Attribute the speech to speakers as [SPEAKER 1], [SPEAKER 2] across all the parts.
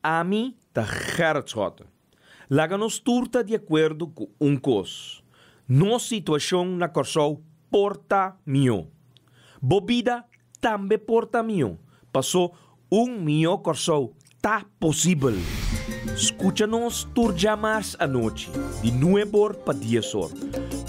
[SPEAKER 1] Ami ta Gerrit Schotten. Laga nos tur ta di akuerdo ku un kos, nos situashon na Kòrsou por ta mihó. Bo bida tambe por ta mihó, pasó un mihó Kòrsou ta posibel! Skucha nos tur djamars anochi di nuebor pa diesor,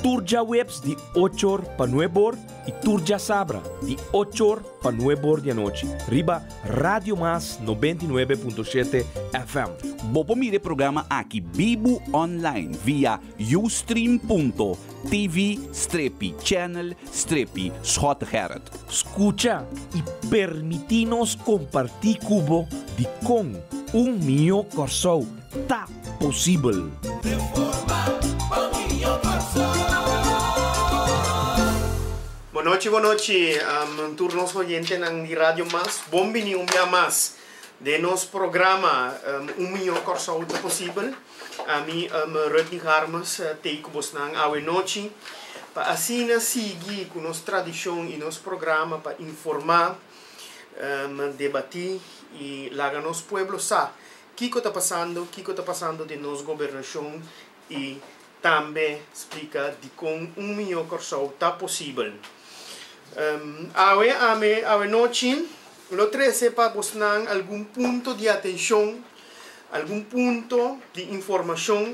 [SPEAKER 1] tur djaweps di ochor pa nuebor, Y tur djasabra di ocho or pa nuebe or di anochi riba Radio Mas noventa y nuebe punto shete FM. Bo por mira e programa
[SPEAKER 2] aki bibu online via ustream.tv strepi channel strepi Schot Gerrit. Scucha
[SPEAKER 1] y permiti nos comparti cu bo di con un mijo Corsou ta posibel.
[SPEAKER 3] Bon nochi, bon nochi tur nos oyentenan di Radio Mas. Bon bini un bia mas den nos programa Un Miño Kòrsou Ta Posibel. Ami Rutney Garmes t'ei ku bosnan awe nochi pa asina sigui ku nos tradishon i nos programa pa informá, debatí i laga nos pueblo sa Kiko ta pasando, kiko ta pasando den nos gobernashon i tambe splika dikon un mihó Kòrsou ta posibel. Awe ami, awe nochi, lo trese pa bosnan algun punto di atenshon, algun punto di informashon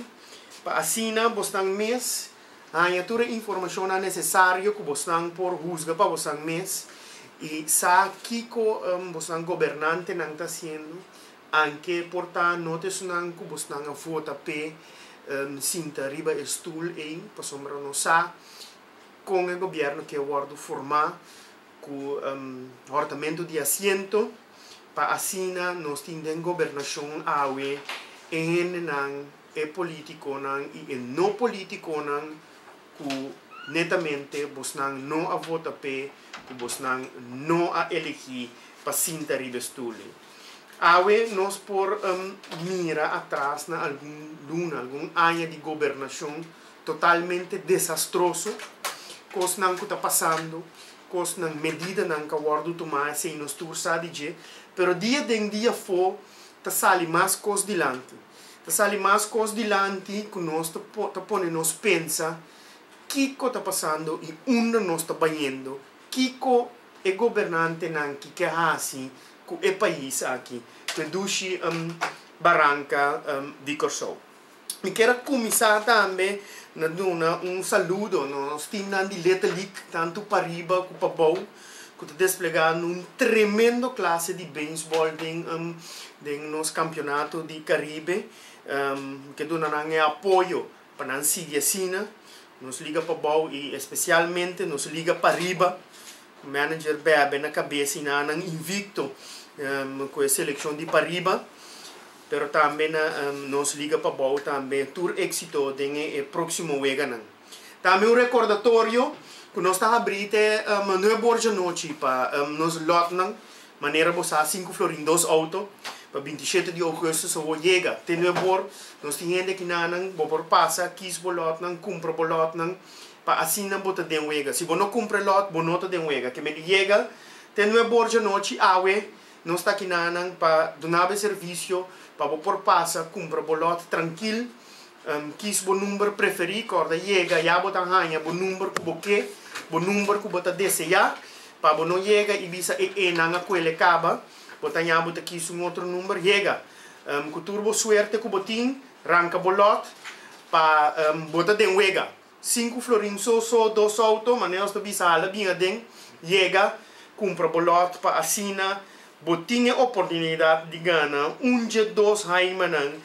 [SPEAKER 3] pa asina bosnan mes haña tur e informashonnan nesesario ku bosnan por husga pa bosnan mes i sa kiko bosnan gobernantenan ta hasiendo. Anke por ta no ta esunnan ku bosnan a vota p'e sinta riba e stul ei, pasobra nos sa kon e gobièrnu ke wòrdu formá ku hòrtamentu di asiento, pa asina nos tin den gobernashon awe e hendenan, e polítikonan i e no polítikonan ku netamente bosnan no a vota p'e, ku bosnan no a elegí pa sinta riba e stul ei. Awe nos por mira atras na algun luna, algun aña di gobernacion totalmente desastroso, cosnan cu ta pasando, cosnan, medidanan ca wordo tuma esey nos tur sa di dje, pero dia den dia afo ta sali mas cos dilanti, ta sali mas cos dilanti cu nos ta pone nos pensa kico ta pasando y unda nos ta bayendo. Kiko e gobernantenan ki ke hasi ku e pais aki te dushi baranka di Kòrsou? Mi kier a kuminsá tambe na duna un saludo na nos timnan di Letelik, tantu pariba ku pabou, ku ta desplegá un tremendo klase di bensbòl den nos kampionato di Karibe. Mi ke duna nan e apoyo. Pa nan sigui asina, nos liga pa bou i especialmente nos liga pariba. Manager bebe na cabesa y na nan invicto cu e seleccion di pariba. Pero tambe na nos liga pa bou tambe tur exito den e proximo weganan. Tambe un recordatorio cu nos ta habri te nuebe ora djanochi pa nos lotnan. Manera bo sa, sinku florin dos outo pa binti shete di ougùstus a wou yega. Te nuè bor, nos tin hende aki na nan, bo por pasa, kis bo lòtnan, kumpra bo lòtnan, pa asina bo ta den wega. Si bo no kumpra e lòt, bo no ta den wega. Ke mende yega te nuè bor djanochi, awe nos ta aki na nan pa dunabo e servisio pa bo por pasa, kumpra bo lòt trankil. Kis bo number preferí kòrda yega ya bo ta haña bo number ku bo ke, bo number ku bo ta deseá pa bo no yega i bisa e e nan a kuele kaba bo ta ña bo ta kis un otro number yega ku tur bo suerte ku bo tin ranka bo lòt pa bo ta den wega. Sinku florin so so dos auto, manera nos ta bisa hala bin aden, yega, kumpra bo lòt pa asina bo tin e oportunidat di gana un dje dos haimanan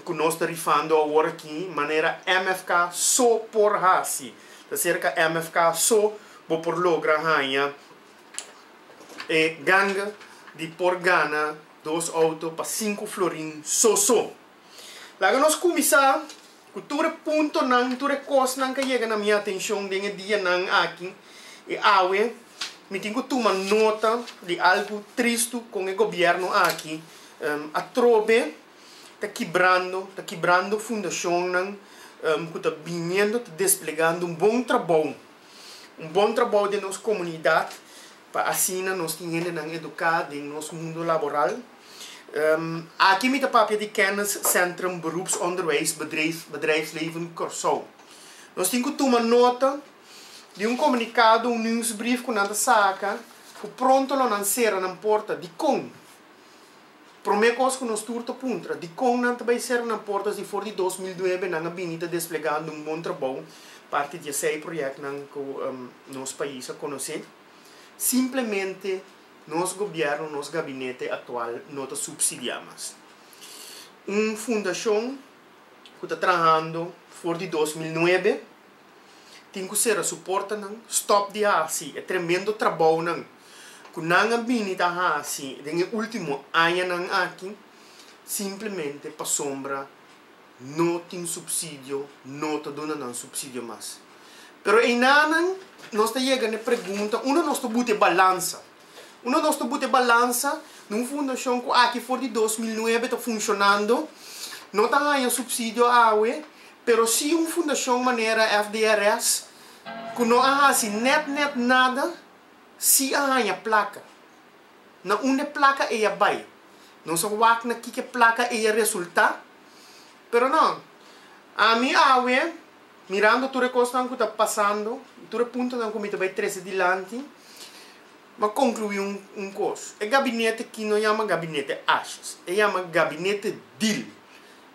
[SPEAKER 3] ku nos ta rifando aworakí manera MFK so por hasi, ta serka MFK so bo por logra haña e ganga di por gana dos auto pa sinku florin so so. Laga nos kuminsá ku tur e puntonan, tur e kosnan ku a yega na mi atenshon den e dianan aki. E awe mi tin ku tuma nota di algu tristu kon e gobièrnu aki atrobe ta kibrando, ta kibrando fundashonnan ku ta biniendo ta desplegando un bon trabou, un bon trabou den nos komunidat. pa asina nos tin hendenan eduká den nos mundo laboral. Aki mi ta papia di Kenniscentrum Beroepsonderwijs Bedrijf, Bedrijfsleven Kòrsou. Nos tin ku tuma nota di un komunikado, un nieuwsbrief ku nan ta saka ku pronto lo nan sera nan porta. Dikon? Promé kos ku nos tur ta puntra, dikon nan ta bai serka nan portas di for di dos mil nuebe nan a bini ta desplegá unda un bon trabou parti di esei proyèknan ku nos pais a konosé? Simplemente nos gobièrnu, nos gabinete aktual no ta supsidiá mas. Un fundashon ku ta trahando for di dos mil nuebe. Tin cu cera su portanan, stop di haci e tremendo trabounan cu nan a bini ta haci den e ultimo añanan aki, simplemente pasobra no tin subsidio, no ta duna nan subsidio mas. Pero einanan nos ta yega n'e pregunta, uno nos ta buta e balansa. Uno nos ta buta e balansa na un fundashon ku aki for di dos mil nuebe ta funshonando, no ta haña supsidio awe, pero si un fundashon manera FDRS ku no a hasi nèt nèt nada si a haña plaka. Na unda plaka ei a bai? Nos a wak na kiko plaka ei a resultá? Pero nò, ami awe. Mirando tur e kosnan ku ta pasando i tur e puntonan ku mi ta bai trese dilanti, m'a konkluí un kos, e gabinete akí no yama gabinete ashas, e yama gabinete dil.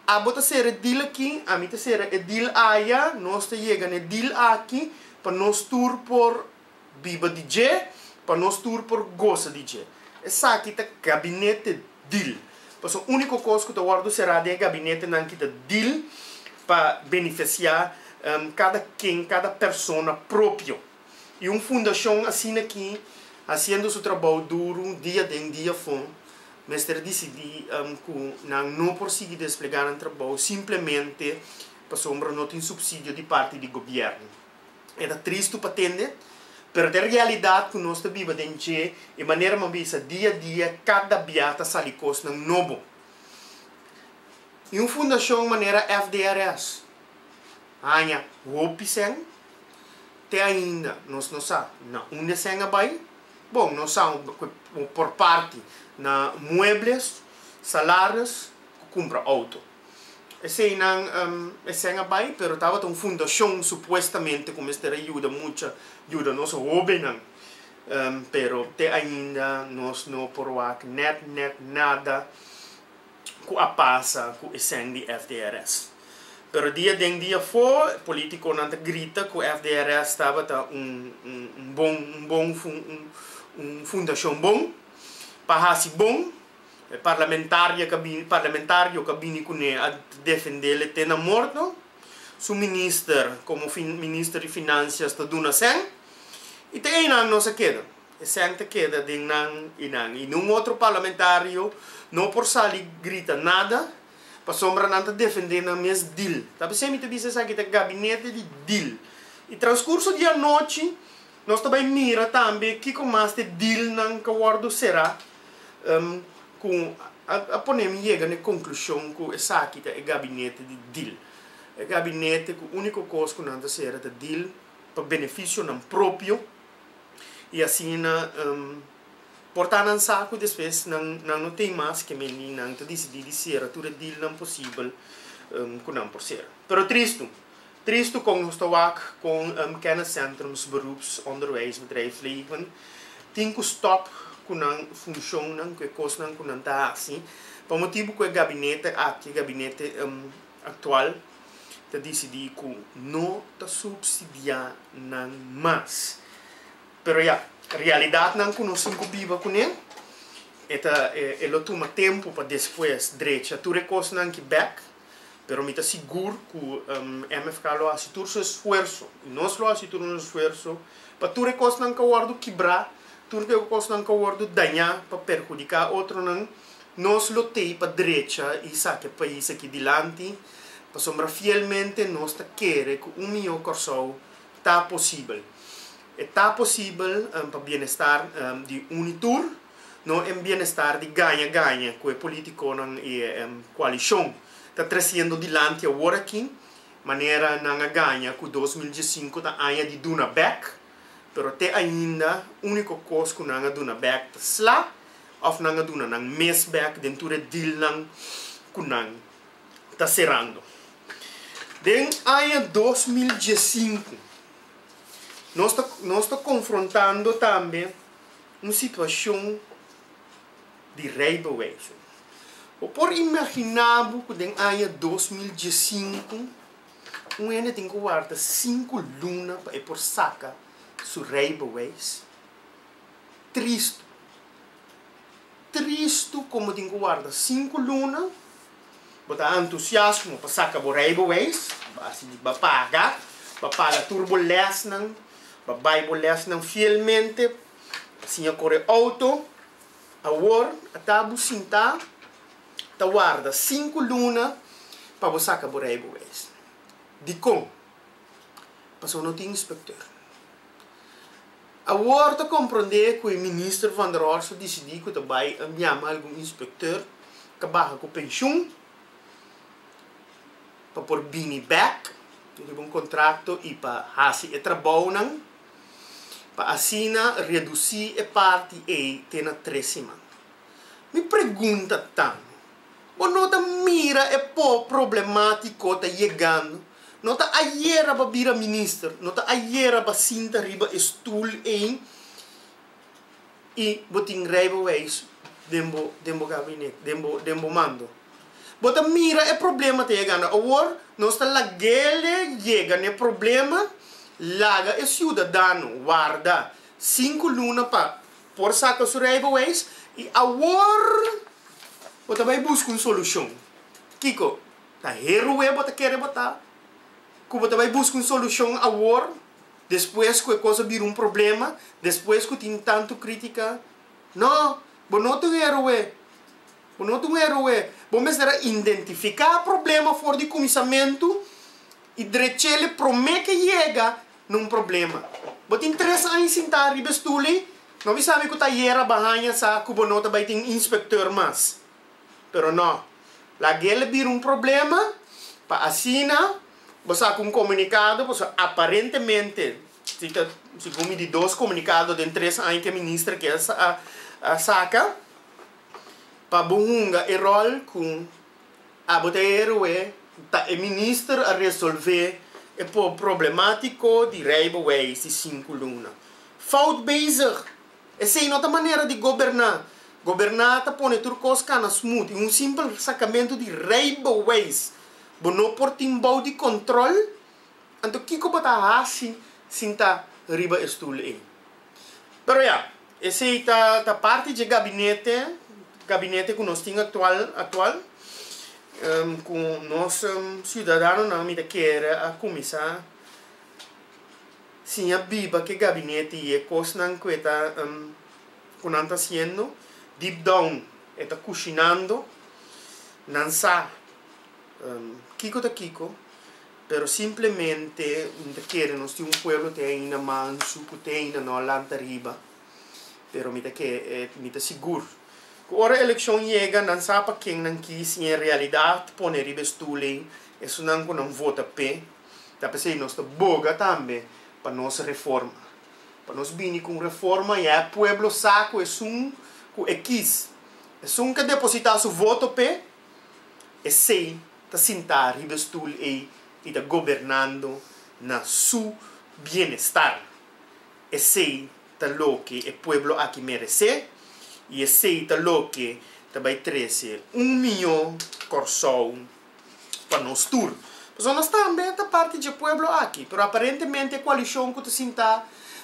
[SPEAKER 3] Abo ta sera e dil akí, ami ta sera e dil aya, nos ta yega na e dil aki pa nos tur por. biba di dje, pa nos tur por gosa di dje. Esaki ta gabinete dil, pasobra úniko kos ku ta wòrdu será den e gabinetenan ki ta dil pa benefesiá kada ken, kada persona propio. I un fundashon asina aki, hasiendo su trabou duru dia den dia fon, mester disidí ku nan no por sigui desplegá nan trabou simplemente pasobra no tin supsidio di parti di gobièrnu. E ta tristu pa tende, pero ta e realidat ku nos ta biba den dje, e manera bo a bisa, dia a dia, kada bia ta sali kosnan nobo. I un fundashon manera FDRS haña hopi sen, te ainda nos no sa na unda esei a bai. Bon, nos sa por parti na muebles, salaris ku kumpra outo. Eseinan esei a bai, pero tabata un fundashon supuestamente ku mester a yuda mucha, yuda nos hóbennan. Pero te ainda nos no por wak nèt nèt nada ku a pasa ku e sèn di FDRS. Pero dia den dia afó polítikonan ta grita ku FDRS tabata un un bon un bon un fundashon bon pa hasi bon. E parlamentaria ka bini, parlamentario ka bini kuné a defendel e te na morto. Su minister, komo fin, minister di Finansias ta duna sèn. I te einan nos a keda. E sèn ta keda den nan i nan. I ni un otro parlamentario no por sali grita nada, pasobra nan ta defendé nan mes dil. Ta bisé mi ta bisa esaki ta gabinete di dil. I transkurso di anochi nos ta bai mira tambe kiko mas t'e dilnan ka wòrdu será. ku a ponem yega na e konklushon ku esaki ta e gabinete di dil. E gabinete ku úniko kos ku nan ta sera ta dil pa benefisio nan propio i asina por ta nan sa ku despues nan no tin mas ke mindi nan ta disidí di sera tur e dilnan posibel ku nan por sera. Pero tristu, Tristu kon nos ta wak kon kenniscentrums beroeps onderwijsbedrijf Leven tin ku stòp ku nan funshonnan ku e kosnan ku nan ta hasi pa motibu ku e gabinete aki, gabinete aktual, ta disidí ku no ta supsidiá nan mas. Pero ya, realidatnan ku nos tin ku biba kuné e ta e lo tuma tempu pa despues drecha tur e kosnan ki bèk. Pero mi ta sigur ku MFK lo hasi tur su esfuerso i nos lo hasi tur nos esfuerso pa tur e kosnan ka wòrdu kibrá, tur e kosnan ka wòrdu dañá pa perhudiká otronan. Nos lo t'ei pa drecha i saka e pais aki dilanti pasobra fielmente nos ta kere ku un mihó Kòrsou ta posibel. E ta posibel pa bienestar di unu tur. No e bienestar di gaña gaña ku e politikonan i e koalishon ta trasiendo dilanti awor aki, manera nan a gaña ku dos mil diesinku ta aña di duna bèk, pero te ainda úniko kos ku nan a duna bèk ta sla òf nan a duna nan mes bèk den tur e dilnan ku nan ta serando. Den aña dos mil diesinku nos ta nos ta konfrontando tambe. un situacion di rey pa wese. Bo por imagina bo cu den aña dos mil diesinku un hende tin cu warda sinku luna pa e por saca su rey pa wese? Tristu. Tristu como tin cu warda sinku luna Bo ta entusiasmo pa saca bo rijbewijs, así di ba paga, ba paga tur bo lesnan, ba bay bo lesnan fielmente, ba siña core auto. Awor a ta bo sinta ta warda sinku luna pa bo saca bo rijbewijs. Dicon? Pasobra no tin inspector. Awor ta komprondé ku e minister Van der Horst a disidí ku ta bai a ñama algun inspekteur ta baha ku penshun pa por bini bèk riba un kontrakto i pa hasi e trabounan pa asina redusí e parti ei te na tres siman. Mi pregunta ta. Bo no ta mira e po problemático ta yegando? No ta ayera bo a bira minister, no ta ayera bo a sinta riba e stoel ein y bo tin rijbewijs den bo den bo gabinet, den bo den bo mando. Bo ta mira e problema ta yegando. Awor nos ta laguele yega n'e problema, laga e ciudadano warda cinco luna pa Por saca su rijbewijs y awor bo ta bay busca un solucion. Kico? Ta herue bo ta kere bo ta cu bo ta bay busca un solucion awor despues cu e cosa bira un problema, despues cu tin tanto critica? No, bo no ta un herue, bo no ta un herue. Bo mester a indentifica problema for di cuminsamentu y drechele prome ke yega. nun problema. Bo tin tres aña sintá riba e stul ei, no mi sabe ku ta yera bo a haña sa ku bo no ta bai tin un inspektor mas. Pero no, lag'el bira un problema pa asina bo saka un komunikado pasobra aparentemente si ta segun mi di dos komunikado den tres aña ku e minister ke a saka pa bo hunga e ròl ku Abo ta e héroe, ta e minister a resolvé e por problemático di rey bo wees di sinku luna. Fout bezig! Esei no ta manera di goberná. Goberná ta pone tur kos kana smut i un simpel sakamento di rey bo wees bo no por tin bou di control. Anto kiko bo ta haci sin ta riba e stoel ei? Pero ya, esei ta ta parti dje gabinete, gabinete ku nos tin aktual aktual, ku nos siudadanonan mi ta kere a kuminsá siña biba ke gabinete i e kosnan ku e ta ku nan ta hasiendo, deep down e ta kushinando, nan sa kiko ta kiko. Pero simplemente mi ta kere nos tin un pueblo te ainda mansu ku te ainda no a lanta riba. Pero mi ta ke mi ta sigur ku ora elekshon yega nan sa pa ken nan kis i en realidat pone riba e stul ei esunnan ku nan vota p'e. Ta p'esei nos ta boga tambe pa nos reforma. Pa nos bini ku un reforma ya e pueblo sa ku esun ku e kis. Esun ke depositá su voto p'e. Esei ta sintá riba e stul ei i ta gobernando na su bienestar. Esei ta loke e pueblo aki meresé i esei ta loke ta bai trese un mihó Kòrsou pa nos tur. Pasobra nos tambe ta parti dje pueblo aki, pero aparentemente e koalishon ku ta sintá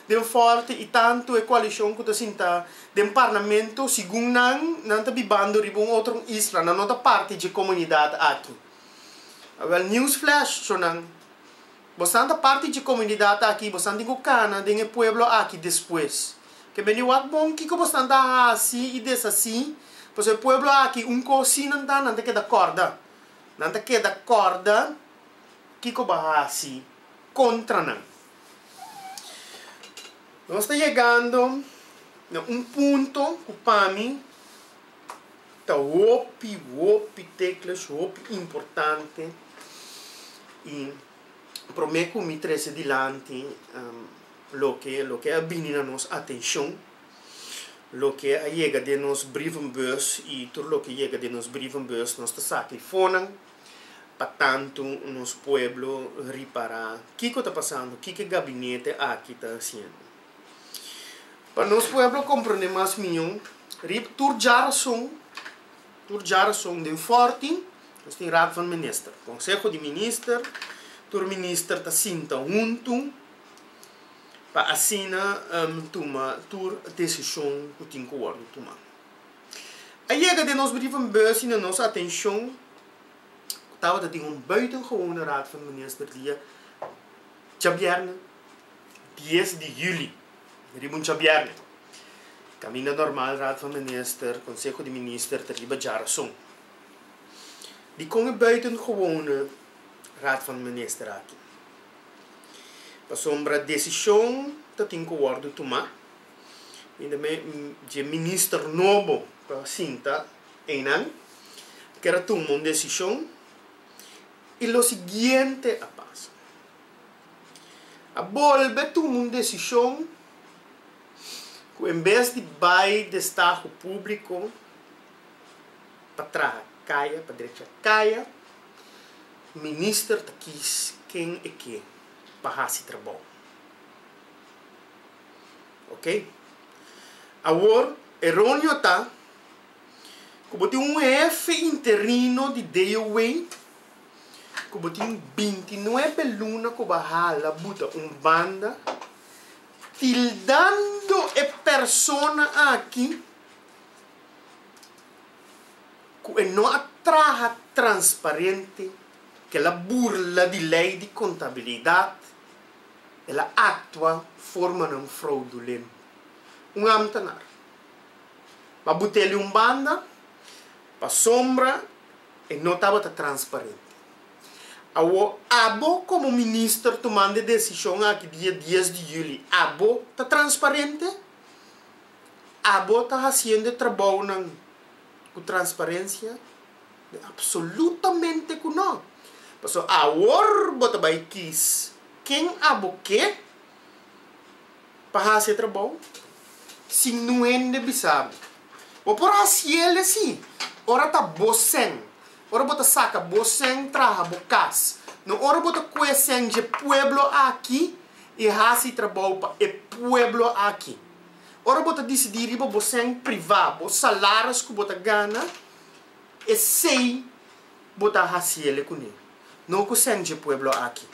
[SPEAKER 3] den fòrte i tantu e koalishon ku ta sintá Den parlamento, segun nan, nan ta bibando riba un otro un isla, nan no ta parti dje comunidad aki. Wel, news flash, cho nan, bosnan ta parti dje comunidad aki y bosnan tin cu cana den e pueblo aki despues. Ke bende wak bon kico bosnan ta haci y deshaci, pasobra e pueblo aki un cos si nan ta, nan ta keda corda, nan ta keda corda kico bo haci contra nan. Nos ta yegando na un punto ku pa mi ta hopi, hopi tekles, hopi importante. I promé ku mi trese dilanti loke, loke a bini na nos atenshon, loke a yega den nos brievenbus i tur loke yega den nos brievenbus nos ta sa kei fonan. Pa tantu nos pueblo ripará kiko ta pasando, kiko e gabinete aki ta hasiendo. Pa nos pueblo komprondé mas mihó riba tur dja rason, tur dja rason den Fòrti nos tin Raad van Minister, Konseho di Minister, tur minister ta sinta huntu pa asina tuma tur desishon ku tin ku wòrdu tumá. A yega den nos brievenbus y na nos atencion tabata tin un buitengewone Raad van Minister dia Djabièrnè dies di juli, riba un Djabièrnè. Kaminda normal Raad van Minister, Konseho di Minister, ta riba djarason. Dikon e buitengewone Raad van Minister aki? Pasobra desishon ta tin ku wòrdu tumá. y tambe dje minister nobo ta sinta eynan ker a tuma un decision y lo siguiente a pasa, a bolbe tuma un decision cu en bes di bay destaho publico pa traha caya, pa drecha caya, minister ta kiss ken e ke pa haci trabao. Oke. Awor, e ronio ta ku bo tin un hefe interino di DOW ku bo tin binti nuebe luna ku bo a hala buta un banda tildando e persona aki ku e no a traha transparente, ku el a burla di lei di kontabilidat. el a actua formanan fraudulento. Un ambtenaar ba buteli un banda pasobra e no tabata transparente. Awor abo como minister tumando e decision aki dia dies di juli, abo ta transparente? Abo ta haciendo e trabounan cu transparencia? Mi absolutamente ku no. Paso awor bo ta bai kis ken abo ke pa hasi e trabou sin nun hende bisabi. Bo por hasiel e si ora ta bo sen, ora bo ta saka bo sen traha bo kas, no ora bo ta ku e sen dje pueblo aki i hasi trabou pa e pueblo aki. Ora bo ta disidi riba bo sen privá, bo salaris ku bo ta gana. Esei bo ta hasiele kuné, no ku sènt e pueblo aki.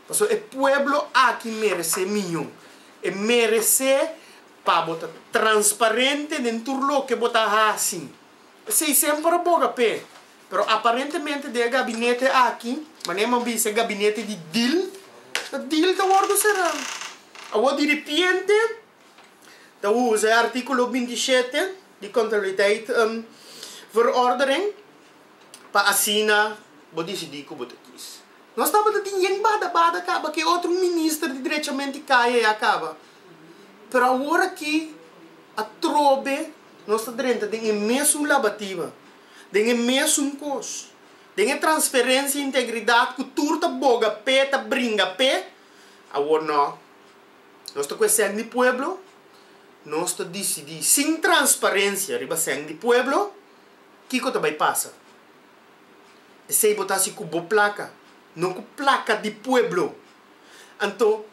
[SPEAKER 3] Pasobra e pueblo aki meresé mió. E meresé pa bo ta transparente den tur loke bo ta hasi. Esei semper a boga p'e. Pero aparentemente den e gabinete aki, manera nan bisa e gabinete di dil, ta dil ta wòrdu será. Awor diripiente ta usa e artíkulo binti shete di Kontabiliteit Verordening pa asina bo disidí ku bo ta kis. Nos tabata tin yen bada bada kaba ke otro minister di Drechamente Kaya ya kaba. Pero awor aki atrobe nos ta drenta den e mesun labatiba, den e mesun kos, den e transferensia integridat ku tur ta boga pe, ta bringa pe, awor nò. Nos ta cu e sèn di pueblo, nos ta dicidi sin transparencia riba sèn di pueblo kico ta bay pasa. Esey bo ta haci cu bo placa, no cu placa di pueblo. Anto,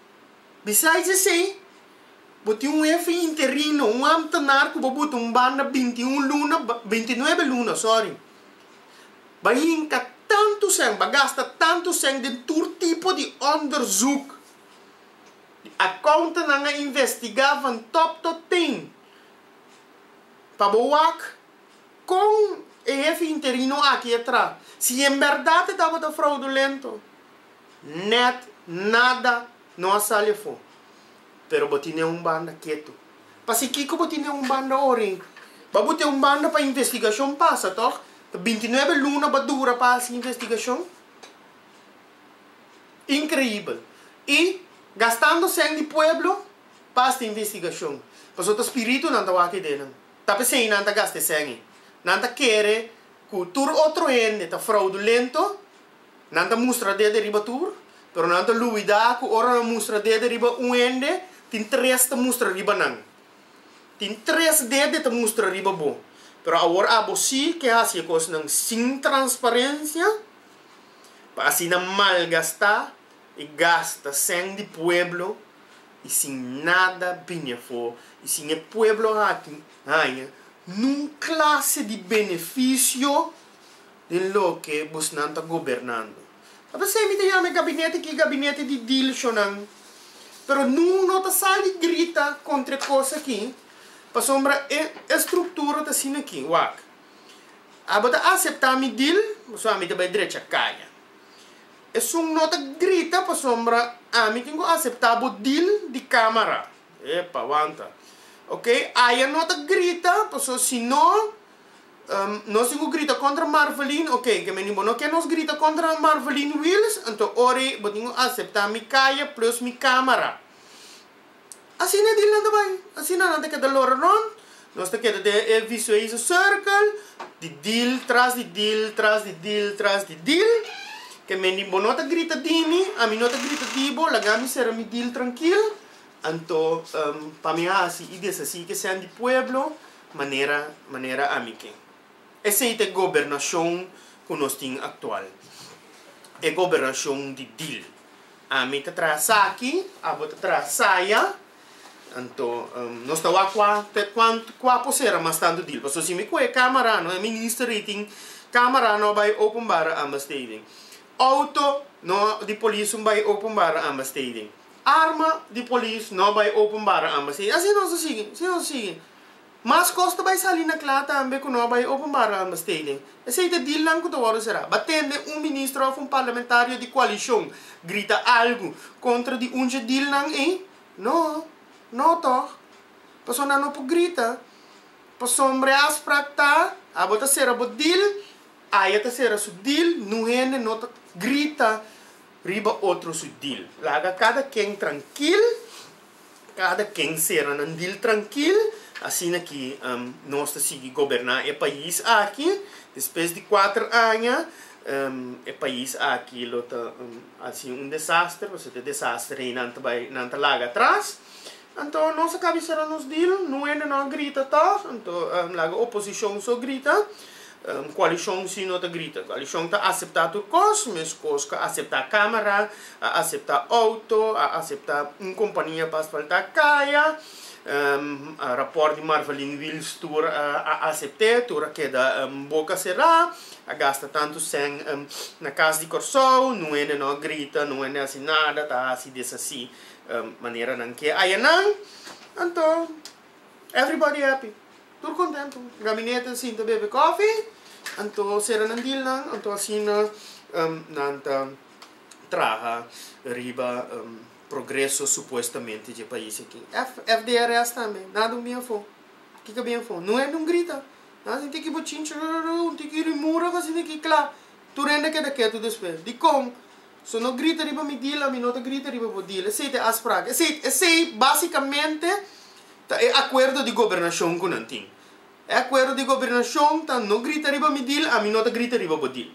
[SPEAKER 3] besides esey, bo tin un hefe interino, un ambtenaar cu bo buta un banda binti un luna, binti nuebe luna, sorry, bay hinca tanto sèn, bay gasta tanto sèn den tur tipo di onderzoek, Di accountant nan a investiga van top tot teen pa bo wak con e hefe interino aki a tra. Si en berdad e tabata fraudulento, net nada no a sali afo. Pero bo tin den un banda keto. Pa si kico bo tin den un banda orin? Ba bo tin un banda pa investigacion pasa, toch? Ta binti nuebe luna ba dura pa haci investigacion. Increíbel. Y gastando sèn di pueblo pa hasta investigacion. Pasobra ta spiritunan ta wak idenan. Ta p'esei nan ta gasta e sèn ei. Nan ta kere cu tur otro hende ta fraudulento, nan ta mustra dede riba tur, pero nan ta luida cu ora nan mustra dede riba un hende, tin tres ta mustra riba nan. Tin tres dede ta mustra riba bo. Pero awor abo sí ke haci e cosnan sin transparencia. pa asina malgastá e gasta sèn di pueblo i sin nada bini afó i sin e pueblo aki haña nun klase di benefisio den loke bosnan ta gobernando. Ta pasé mi ta yama e gabinete aki gabinete di dilshonan, pero nun lo ta sali grita kontra e kos aki pasobra e estruktura ta asina aki wak. Abo ta aseptá mi dil, pasobra ami ta bai drecha kaña. Esun no ta grita pasobra ami tin ku aseptá bo dil di kámara. Epa, wanta. Okey, Aya no ta grita, pasobra si no, nos tin ku grita kontra Marvelin, okey, ke meni bo no ke nos grita kontra Marvelin Wils, anto ora ei bo tin ku aseptá mi kaya plus mi kámara. Asina e dilnan ta bai. Asina nan ta keda lora rond. Nos ta keda den e visueizo cirkel di dil tras di dil tras di dil tras di dil. Ke men di bo no ta grita di mi, ami no ta grita di bo, laga mi sera mi dil trankil. Anto pa mi hasi i deshasi ke sèn di pueblo manera manera ami ke. Esei ta e gobernashon ku nos tin aktual. E gobernashon di dil. Ami ta traha esaki, abo ta traha esaya. Anto nos ta wak kua ta kuantu kua por sera mas tantu dil. Pasobra si mi kuhe camera no e minister ei tin camera no a bai openbare aanbesteding. Outo no di polis no bai openbare aanbesteding. Arma di polis no a bai openbare aanbesteding. Asi nos ta sigui, si nos ta sigui. Mas kos ta bai sali na kla tambe ku no bai openbaro ambesteding. Esei ta dilnan ku ta wòrdu será. Ba tende un ministro òf un parlamentario di koalishon grita algu kontra di un dje dilnan ei? No. No tòg. Pasobra nan no por grita. Pasobra e afsprak ta, abo ta sera bo dil, aya ta sera su dil. Nu hende no ta grita riba otro su dil. Laga kada ken trankil. Kada ken sera nan dil trankil, asina ki nos ta sigui goberná e pais aki. Despues di kuater aña e pais aki lo ta hasi un desaster, pasobra e desaster ei nan ta bai, nan ta laga atras. Anto nos a kabia sera nos dil, nuende no a grita tòg, anto laga oposishon so grita. Un koalishon si no ta grita. Koalishon ta aseptá tur kos, meskos ku a aseptá kámara, a aseptá outo, a aseptá un kompania pa asfaltá kaya, rapòrt di Marvaliñ Wils tur a asept'é, tur a keda boka será, a gasta tantu sèn na kas di Kòrsou, nun hende no a grita, nun hende a hasi nada, ta hasi deshasí manera nan ke hayanan, anto. Everybody happy, tur kontentu. Gabinete a sinta bebe kofi, anto sera nan dealnan, anto asina nan ta traha riba progreso supuestamente dje pais aki. FDRS tambe, nada un bien afó. Kiko bien afó? No hende un grita, nan a sinti aki bochinchi, rorororo, un tiki rimura ku a sinti aki kla, tur hende a keda ketu despues. Dikon? So no grita riba mi dil, ami no ta grita riba bo dil. Esei ta e afspraak. Esei, esei básikamente ta e akuerdo di gobernashon ku nan tin. E akuerdo di gobernashon ta no grita riba mi dil, ami no ta grita riba bo dil.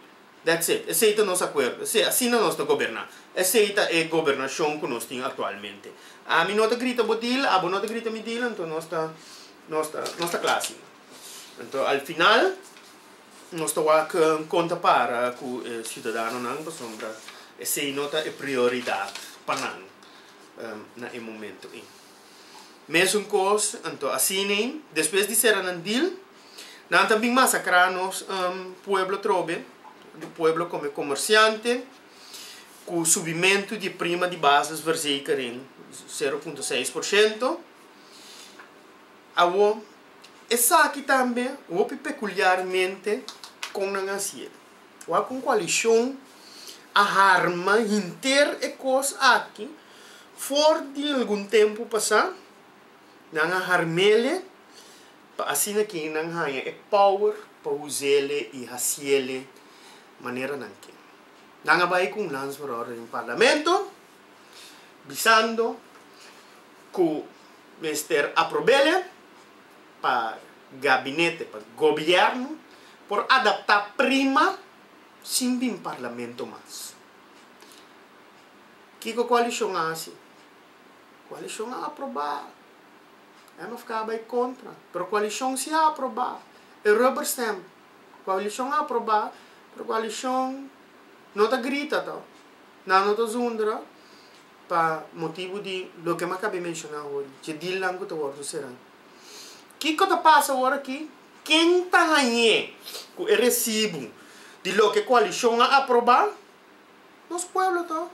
[SPEAKER 3] That's it. Esei ta nos akuerdo. Esei, asina nos ta goberná. Esei ta e gobernashon ku nos tin aktualmente. Ami no ta grita bo dil, abo no ta grita mi dil, anto nos ta, nos ta, nos ta kla asina. Anto al final. Nos ta wak kon ta para ku e siudadanonan pasobra esei no ta e prioridad pa nan na e momento ei. Mesun kos, anto asina despues di sera nan dil, nan ta bin masakrá nos pueblo trobe, pueblo kome komersiante ku subimentu di e prima di bases verzekering sero punto seis por shento. Awo Esaki tambe hopi pekuliarmente kon nan hasié. Wak un koalishon a harma henter e kos aki for di algun tempu pasá. Nan a harm'el'e pa asina ke nan haña e power pa us'el'e i hasiel'e manera nan ke. Nan a bai ku un lans for ora den parlamento. bisando cu mester aprobele pa gabinete, pa gobierno por adapta prima sin bin parlamento mas. Kico coalicion a haci? Coalicion a aproba, mfk a bay contra, pero coalicion si a aproba, e rubber stamp, coalicion a aproba, pero coalicion no ta grita to. Nan no ta zundra pa motibu di loke mi a kab'é menshoná awor, di dje dilnan ku ta wòrdu será. Kiko ta pasa ora ki? Ken ta hañ'é ku e resibu di loke koalishon a aprobá? Nos pueblo to.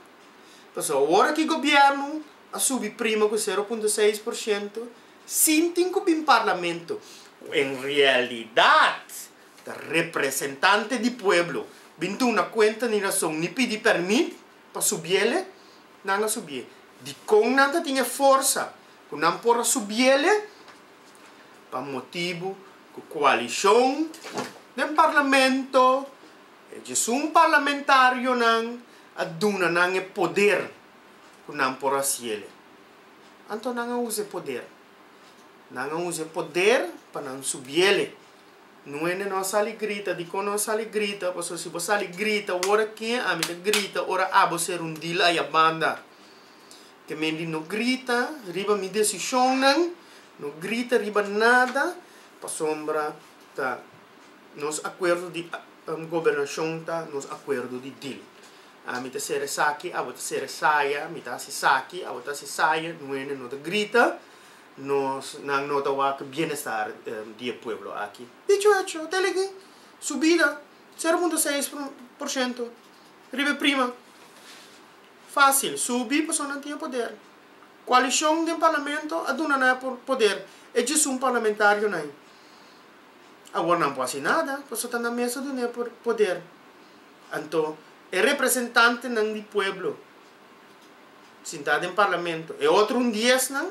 [SPEAKER 3] Pasobra ora ki gobièrnu a subi prima ku sero punto seis por shento, sin tin ku bin parlamento, ku en realidat, Ta representante di pueblo bin duna cuenta ni rason ni pidi permit pa subiele? Nan a subie. Dicon nan ta tin e forsa cu nan por a subiele? Pa motibu cu coalicion den parlamento, e djesun parlamentarionan a duna nan e poder cu nan por a haciele. Anto nan a usa e poder. Nan a usa e poder pa nan subiele. No hende no a sali grita, dikon no a sali grita, pasobra si bo sali grita wora ken ami ta grita ora abo ser un dil aya banda. Te men di no grita riba mi desishonnan, no grita riba nada, pasobra ta nos akuerdo di gobernashon ta nos akuerdo di dil. Ami ta ser esaki, abo ta ser esaya, mi ta hasi esaki, abo ta hasi esaya, no hende no ta grita. Nos nan no ta wak bienestar di e pueblo aki. Dicho hecho, ta ligi subida sero punto seis por shento riba e prima. Facil subi pasobra nan tin e poder. Coalicion den parlamento a duna nan e poder. E djiesun parlamentarionan awor nan por haci nada pasobra ta nan mes ta duna e poder. Anto e representantenan di pueblo. sintá den parlamento. E otro un diesnan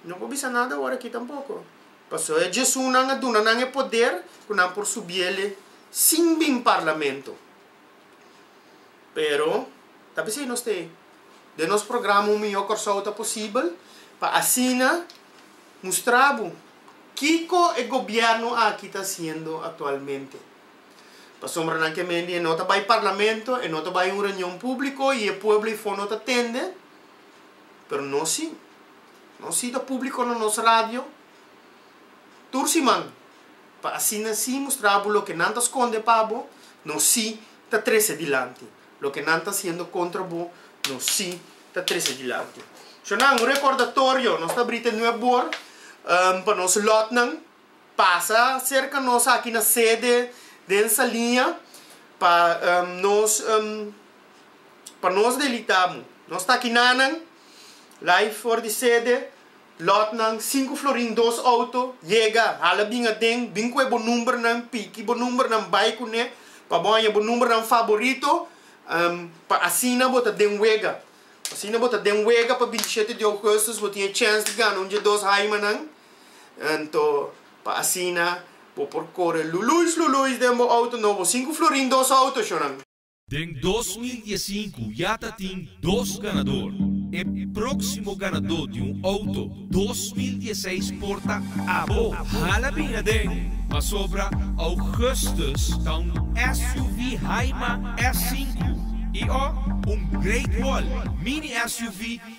[SPEAKER 3] no por bisa nada awor aki tampoko. Pasó e Djesunan a duna nan e poder ku nan por subiele sin bin parlamento. Pero ta bis'ei nos t'ei. Den nos programa Un Mihó Kòrsou Ta Posibel pa asina mustra bo kiko e gobièrnu aki ta hasiendo aktualmente. Pasobra nan ke mendi e no ta bai parlamento, e no ta bai un reunion públiko i e pueblo ifó no ta tende. Pero nos sí. Nos sí ta públiko na nos radio tur siman pa asina sí mustra bo loke nan ta skonde pa bo, nos sí ta trese dilanti. Loke nan ta hasiendo kontra bo, nos sí ta trese dilanti. Shornan, un rekordatorio, nos ta bri te nuep bor pa nos lòtnan. pasa serka nos aki na sede den Saliña pa nos pa nos delita amo. Nos ta kinanan lai for di sede, lotnan sinku florin dos outo yega hala bin aden bin ku e bo numbernan piki bo numbernan bai kune pa bo haña bo numbernan faborito pa asina bo ta den wega asina bo ta den wega pa bintishete di ougustus bo tin e chèns di gana un dje dos haimanan. Anto, pa asina bo por kore luluis luluis den bo outo no bo sinku florin dos outo shonan. Den dos
[SPEAKER 1] mil diesinku ya ta tin dos ganador. E próksimo ganadó di un outo dos mil dieseis por ta abo. Hala bin aden, pasobra Augustus ta un SUV Haima S sinku i o un Great Wall Mini SUV.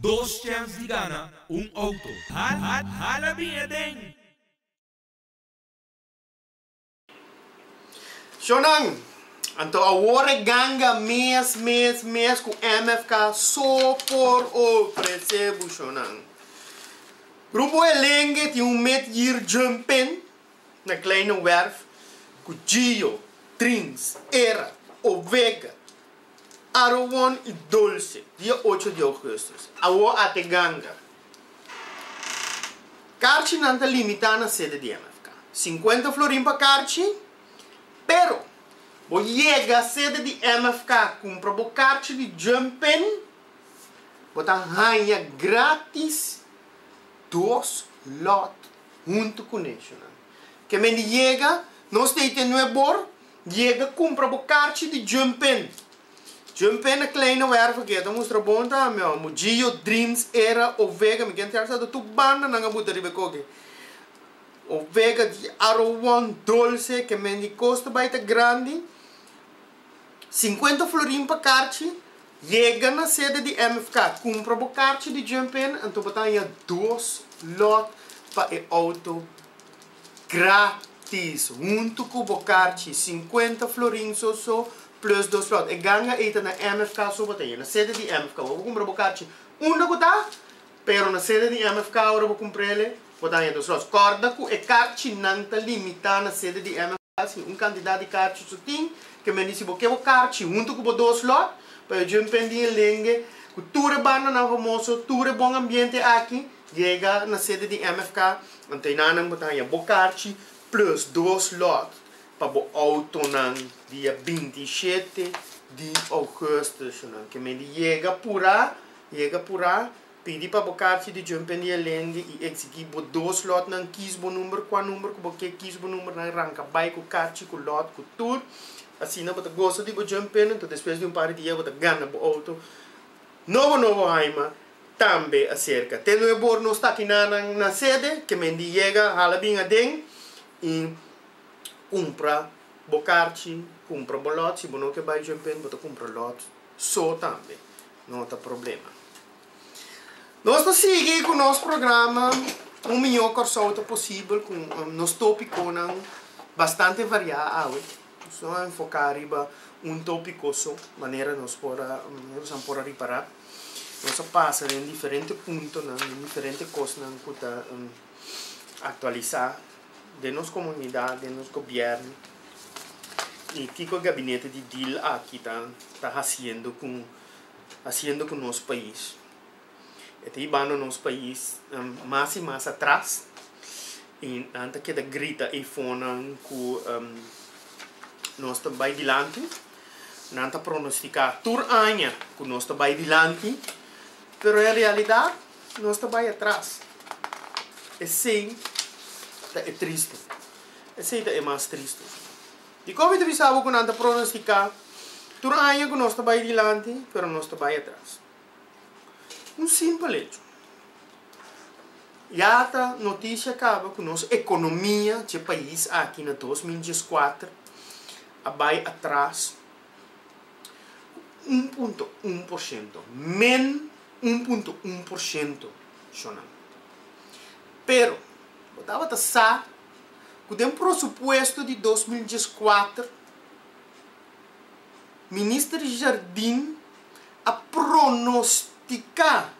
[SPEAKER 1] Dos chèns di gana un outo. Hala bin e den.
[SPEAKER 3] Shonan, anto awor e ganga mes mes mes ku MFK so por ofresé bo shonan. Grupo Elenge tin un met yir jumpen na Kleine Werf ku Gio, Trins, Era, Ovega, Aruwon i Dulce, dia ocho di ougustus, Awó ate ganga. Karchinan ta limitá na sede di MFK. Sinkuenta florin pa karchi, pero bo yega sede di MFK kumpra bo karchi di Jumpin, bo ta haña grátis dos lòt huntu ku National. Kemen di yega, nos ta e tene bo Yega cumpra bo carchi di Jun Pen. Jun Pen na Kleine Werve ke ta mustra bon ta ami awa Mujiyo, Dreams, Era, Ovega, mi ke interesá ta tur banda nan a buta riba e koke. Ovega, di Aro One, Dolce, ke men di Costa Bay ta grandi. Cincuenta florin pa carchi. Yega na sede di MFK. Cumpra bo carchi di Jun Pen anto bo ta haña dos lot pa e auto. Gratis! Huntu ku bo karchi, sinkuenta florin so so, plus dos flòt. E ganga ei ta na MFK so bo ta e na sede di MFK. Ora bo kumpra bo karchi unda ku ta, pero na sede di MFK ora bo kumpra el e bo ta haña dos flòt. Kòrda ku e karchinan ta limitá na sede di. Sin un cantidad di carchi su tin, ke men dici bo ke bo carchi hunto cu bo dos lot, pa yo djun pen di e lenge cu tur e bandanan famoso, tur e bon ambiente aki yega na sede di MFK, antenanan bo ta haya bo carchi plus dos lot pa bo autonan dia binti i shete di augustus, nan ke men di yega pura, yega pura, Pidi pa bo karchi di Jum Pendi Elendi i eksigí bo dos lòtnan kis bo number. Kua number ku bo ke kis bo number, nan ranka bai ku karchi, ku lòt, ku tur. Asina bo ta gosa di bo Jum Pendi, anto despues di un par di dia bo ta gana bo outo. Nobo nobo haima tambe aserka. Te no e bor nos ta akiná nan na sede, kemendi yega hala bin aden i kumpra bo karchi, kumpra bo lòt. Si bo no ke bai Jum Pendi bo ta kumpra lòt. so tambe no ta problema. Nos ta sigui cu nos programa Un Mijo Corsou ta posibel cu nos topiconan bastante varia awe. Nos no a enfoca riba un topico so manera nos por a merosan por a ripara. Nos a pasa den diferente puntonan, den diferente cosnan cu ta actualisa. den nos komunidat, den nos gobièrn i kiko e gabinete di dil aki ta ta hasiendo ku hasiendo ku nos pais. E ta ibando nos pais mas i mas atras i nan ta keda grita ei fonan ku nos ta bai dilanti, nan ta pronostiká tur aña ku nos ta bai dilanti, pero en realidat. Si nos ta bai atras, esei ta e tristu. Esei ta e mas tristu. Dikon mi ta bisa bo ku nan ta pronostiká tur aña ku nos ta bai dilanti, pero nos ta bai atras? Un simpel echo. Ya ta noticia kaba ku nos ekonomia, dje pais aki na dos mil dieskuater, a bai atras. un punto un por shento, men un punto un por shento shonamento. Pero, bo tabata sa cu den prosupuesto di dos mil diestra kuater, Minister Jardim a pronostica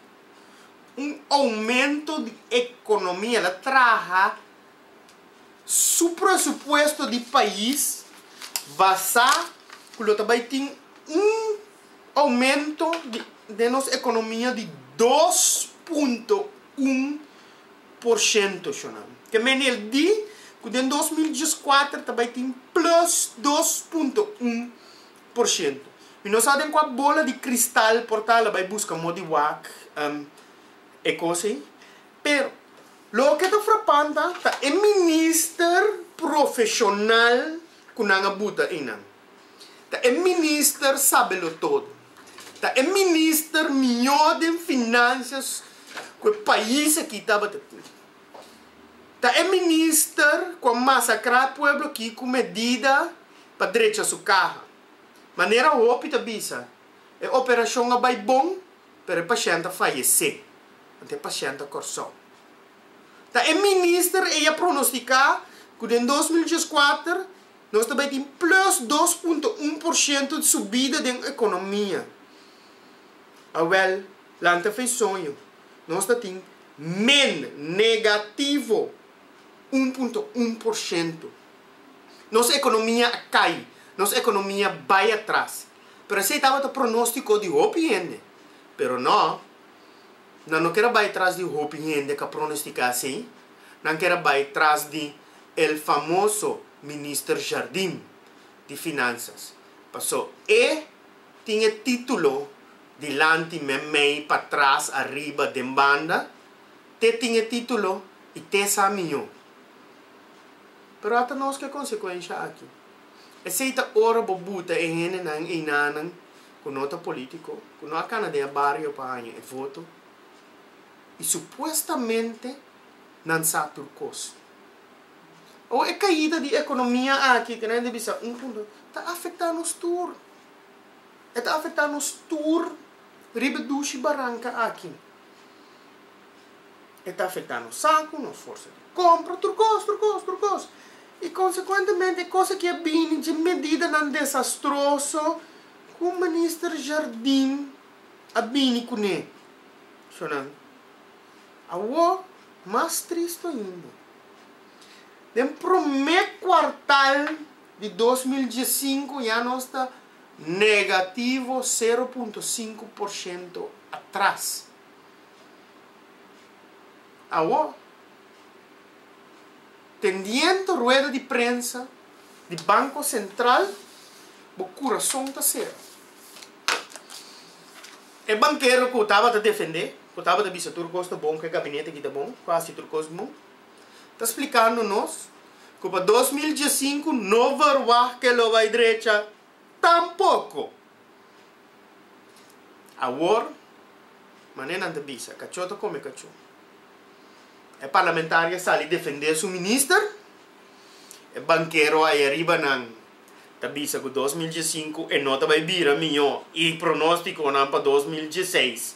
[SPEAKER 3] un aumento di economia, el a traha, su presupuesto di pais basá ku lo ta bai tin un oumento den nos ekonomia di dos punto un por shento, shonam. Ke menel di ku den dos mil diesakuater ta ta bai tin plus dos punto un por shento. Mi no sa den kua bola di kristal por ta, lo bai buska modi wak e kos ei. Pero, loke ta frapanta ta e minister profeshonal ku nan a buta einan. Ta e minister sabelotodo. Ta e minister mihó den finansias ku e pais aki tabata tin. Ta e minister ku a masakrá pueblo aki ku medida pa drecha su kaha. Manera hopi ta bisa. E operashon a bai bon, pero e pashènt a fayesé, anto e pashènt a Kòrsou. Ta e minister ei a pronostiká ku den dos mil dies's kuater nos ta bai tin plus dos punto un por shento di subida den ekonomia. Awèl, lanta fe i soño, nos ta tin men, negativo, un punto un por shento. Nos ekonomia a kai, nos ekonomia bai atras. Pero esei tabata pronóstiko di hopi hende. Pero nò, nan no ker a bai tras di hopi hende k'a pronostiká asei, nan ker a bai tras di el famoso Minister Jardin di Finansas, pasó e tin e título dilanti men mei pa tras ariba den banda, te tin e título i te sa mió. Pero ata nos ke konsekuensha aki. Esei ta ora bo buta e hendenan einanan ku no ta polítiko, ku no a kana den e bario pa haña e voto i supuestamente nan sa tur kos. Awo e kaida di ekonomia aki ku nan a bisa un punto ta afektá nos tur. E ta afektá nos tur riba e dushi baranka aki. E ta afecta nos sacu, nos forsa di compra, tur cos, tur cos, tur cos. Y consecuentemente e cos aki a bini dje medidanan desastroso cu Minister Jardin a bini cune. So nan, awo mas triste ainda, den prome cuartal di dos mil diesinco ya nos ta negativo sero punto sinku por shento atras. Awor, pendiente rueda di prensa di Banco Central, bo curason ta sero. E bankero cu tabata defende, cu tabata bisa tur cos ta bon, cu e gabinete aki ta bon, cu haci tur cos bon, ta splicando nos cu pa dos mil diescinco no verwag ke lo bay drecha. Tampoko! Awor, manera nan ta bisa, kachó ta kome kachó. E parlamentario a sali defendé su minister, e bankero ayaribanan ta bisa ku dos mil diesinku e no ta bai bira mihó i pronóstikonan pa dos mil dieseis,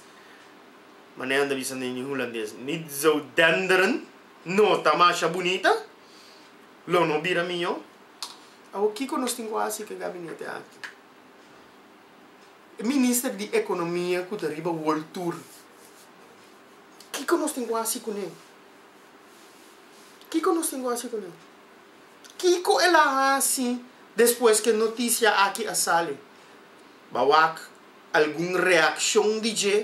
[SPEAKER 3] manera nan ta bisa den e hulandes, Niet zou denderen, no ta masha bunita, lo no bira mihó. Awor kiko nos tin ku hasi ku e gabinete akí? E minister di ekonomia ku ta riba world tour, kiko nos tin ku hasi kuné? Kiko nos tin ku hasi kuné? Kiko el a hasi despues ku e notisia akí a sali? Ba wak algun reakshon di dje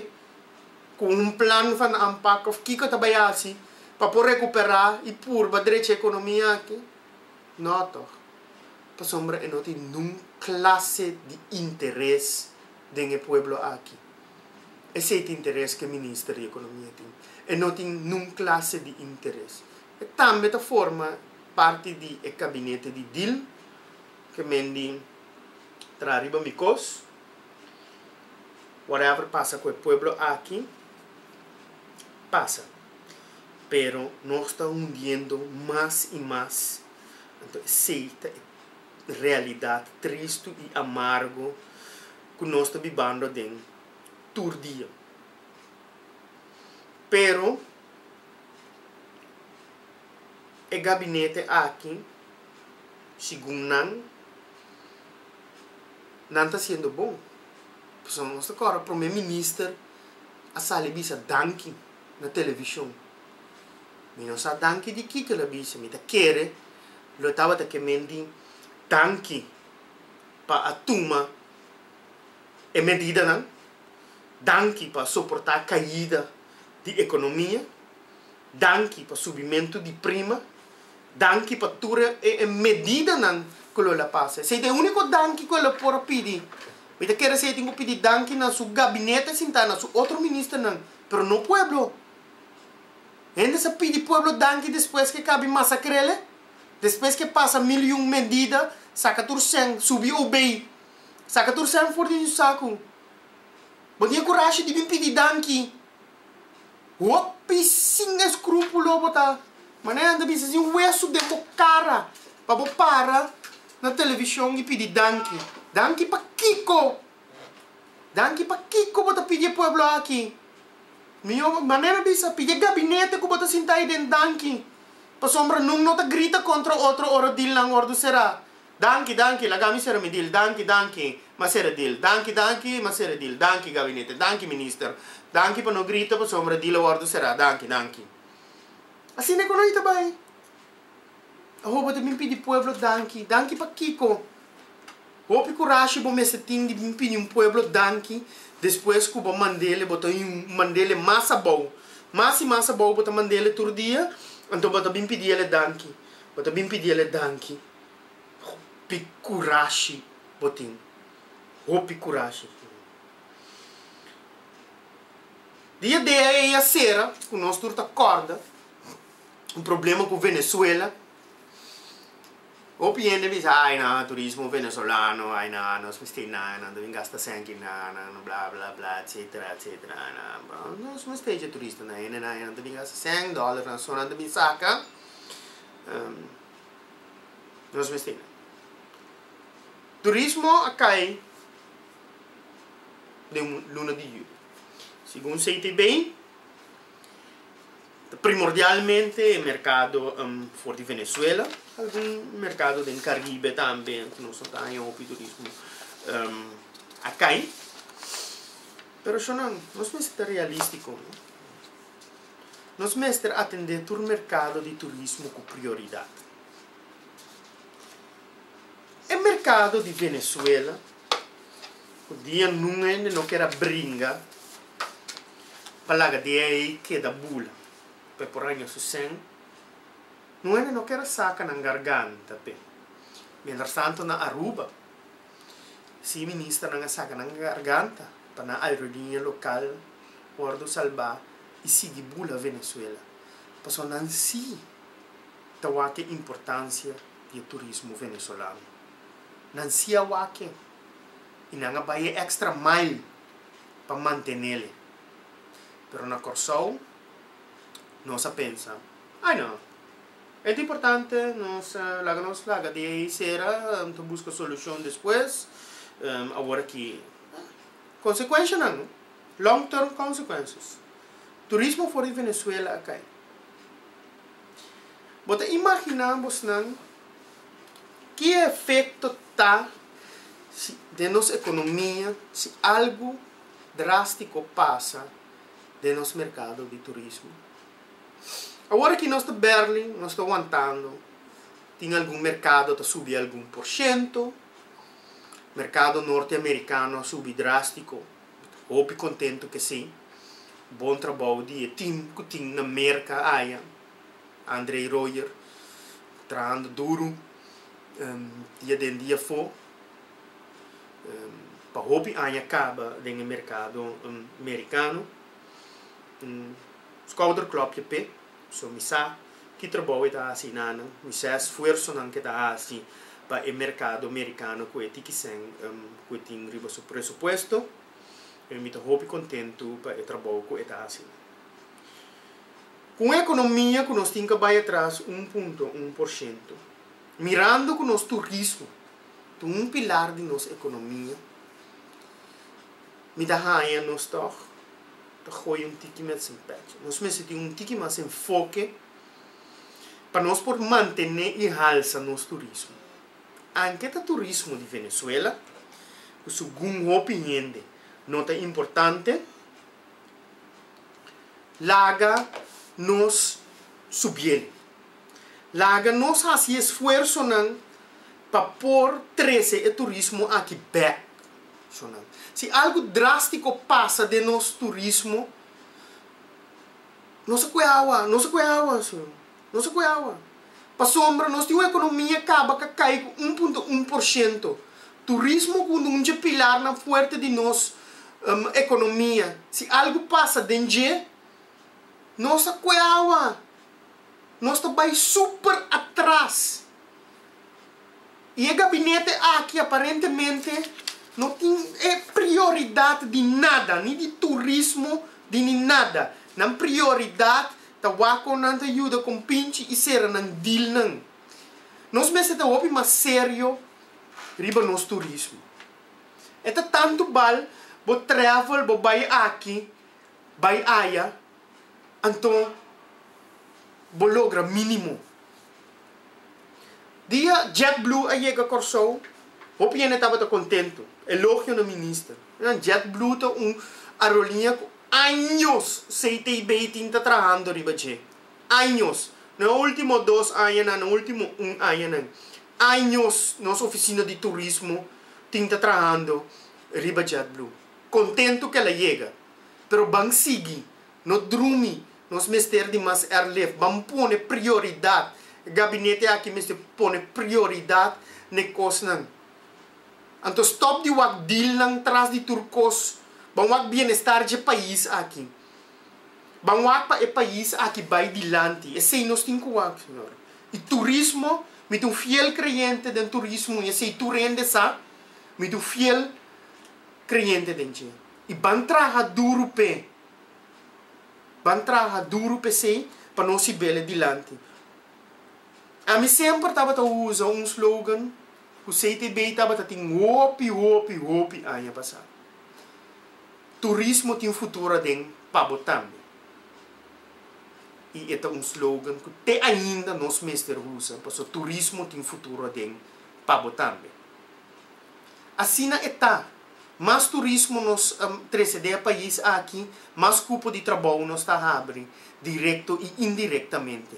[SPEAKER 3] ku un plan van anpak òf kiko e ta bai hasi pa por rekuperá i purba drechi e ekonomia akí? No toch, pasobra e no tin nun clase di interes den e pueblo aki. Esey ta interes cu e Minister di Economia tin. E no tin nun clase di interes. E tambe ta forma parti di e cabinete di deal cu mendi traha riba mi cos. Whatever pasa cu e pueblo aki, pasa. pero nos ta hundiendo mas y mas, anto esey ta e realidad tristu y amargo cu nos ta bibando aden tur dia. Pero e gabinete aki, segun nan, nan ta haciendo bon, pasobra nos ta cora prome minister a sali a bisa danki. na television. Mi no sa danki di kiko el a bisa, mi ta kere lo tabata ke men di danki pa a tuma e medidanan, danki pa soportá kaida di ekonomia, danki pa subimentu di prima, danki pa tur e medidanan ku lo el a pasa. Esei ta e úniko danki ku el a por a pidi. Mi ta kere si e tin ku pidi danki na su gabinete sintá, na su otro ministernan pero no pueblo. Hende sa pidi pueblo danki despues ke kabi masakrele, despues ke pasa mil i un mendida, saka tur sèn, subi obey, saka tur sèn for den su saku. Bo tin e kurashi di bin pidi danki. Hopi sin eskrupulo bo ta. Manera nan ta bisa sin wesu den bo kara pa bo para na televishon i pidi danki. Danki pa kiko? Danki pakiko bo ta pidi e pueblo aki. Mihó manera mi bisa pidi e gabinete ku bo ta sinta ayi den danki pasobra nun no ta grita kontra otro ora dilnan wòrdu será. Danki danki laga mi sera mi dil danki danki m'a sera e dil danki danki m'a sera e dil danki gabinete danki minister danki pa no grita pasobra e dil a wòrdu será danki danki. Asina ku no i ta bai. Awo bo ta bin pidi pueblo danki? Danki pa kiko? Hopi kurashi bo mester tin di bin pidi un pueblo danki despues ku bo mand'el, bo ta mand'el mas abou, mas i mas abou bo ta mand'el tur dia, anto bo ta bin pidi el danki? Bo ta bin pidi el danki? Hopi kurashi bo tin, hopi kurashi bo tin. Di e dea ei a sera ku nos tur ta kòrda. un problema cu Venezuela hopi hende bisa ai nan turismo venezolano ai nan anos mester nan nan ta bin gasta senti nan nan bla bla bla etcetera etcetera nos mester dje turista nan hende nan nan ta bin gasta cen dollar nan so nan ta bin saca nos mester nan turismo a cay den luna di julio segun CTB Primordialmente e merkado for di Venezuela, algun merkado den Karibe tambe ku nos no ta haña hopi turismo a kai. Pero shon nan, nos mester ta realístiko. Nos mester atendé tur merkado di turismo ku prioridat. E merkado di Venezuela. Ku dia nun hende no keda bringa pa laga dia ei keda bula pa e por haña su sen, nun hende no keda saka nan garganta p'e. Mientras tanto na Aruba si ministernan a saka nan garganta pa nan aerolinia lokal wordu salbá i sigui bula Venezuela pasobra nan si ta wak e importansia di e turismo venezolano. nan sia wake i nan a bai e extra mile pa mantenele. Pero na Corsou nos a pensa, Ai no, e ta importante nos laga nos laga di ei sera, nan ta buska solucion despues, awor aki consecuencianan, long term consequences, turismo for di Venezuela a cay. Bo ta imaginá bosnan ki efekto ta si den nos ekonomia si algu drástiko pasa den nos merkado di turismo? Awor aki nos ta bèrlè, nos ta wantando, tin algun merkado ta subi algun por shento, merkado norte amerikano a subi drástiko. Hopi kontentu ke si. Bon trabou di e tim ku tin na Merka aya. Andrey Royer trahando duru dia den dia afó pa hopi aña kaba den e merkado merikano. Skouderklòpje p'e. So mi sa ki trabou e ta hasi i nan, mi sa e sfuersonan ku e ta hasi pa e merkado merikano ku'e tikisen ku e tin riba su presupuesto, i mi ta hopi kontentu pa e trabou ku e ta hasi nan. Ku un ekonomia ku nos tin ka bai atras un punto un por shento, mirando ku nos turismo ta un pilar di nos ekonomia, Mi ta haña nos tòg ta gooi un tiki mès en pèchi. Nos mester tin un tiki mas enfoke pa nos por mantené i halsa nos turismo. Anke ta turismo di Venezuela, ku segun hopi hende no ta importante, laga nos subiel. Laga nos hasi e esfuersonan pa por trese e turismo aki bèk internashonal. Si algu drástiko pasa den nos turismo, nos a kue awa, nos a kue awa, señor, nos a kue awa. Pasobra nos tin un ekonomia kaba ka kai ku un punto un por shento. Turismo ku unda un dje pilarnan fuerte di nos ekonomia, si algu pasa den dje. Nos a kue awa. Nos ta bai super atras. Y e gabinete aki aparentemente no tin e prioridad di nada, ni di turismo, di ni nada. Nan prioridad ta wak con nan ta yuda compinchi y cera nan dealnan. Nos mester ta hopi mas serio riba nos turismo. E ta tanto bal bo travel, bo bai aki. bai aya, anto bo logra minimo. Dia JetBlue a yega Kòrsou, hopi hende tabata kontento, elogio na minister. Nan JetBlue ta un aeroliña ku años CTB tin ta trahando riba dje. Años, no e ultimo dos añanan, no e ultimo un añanan. Años nos ofisina di turismo tin ta trahando riba JetBlue. Kontentu kela yega. Pero ban sigui, no drumi, nos mester di mas airlift. Ban pone prioridat. E gabinete aki mester pone prioridat n'e kosnan. Anto stop di wak dealnan tras di tur kos. Ban wak bienestar dje pais aki. Ban wak pa e pais aki bai dilanti. Esei nos tin ku wak, señor. I turismo, mi ta un fiel kreyente den turismo i esei tur hende sa. Mi ta un fiel. creyente den dje, y ban traha duro p'e, ban traha duro p'esey pa nos hibele dilanti. Ami semper tabata usa un slogan cu CTB tabata tin hopi, hopi, hopi aña pasa, Turismo tin futuro aden pa bo tambe. Y e ta un slogan cu te ainda nos mester usa, pasobra turismo tin futuro aden pa bo tambe. Asina e ta, mas turismo nos trese den e pais aki, mas cupo di trabou nos ta habri, directo y indirectamente.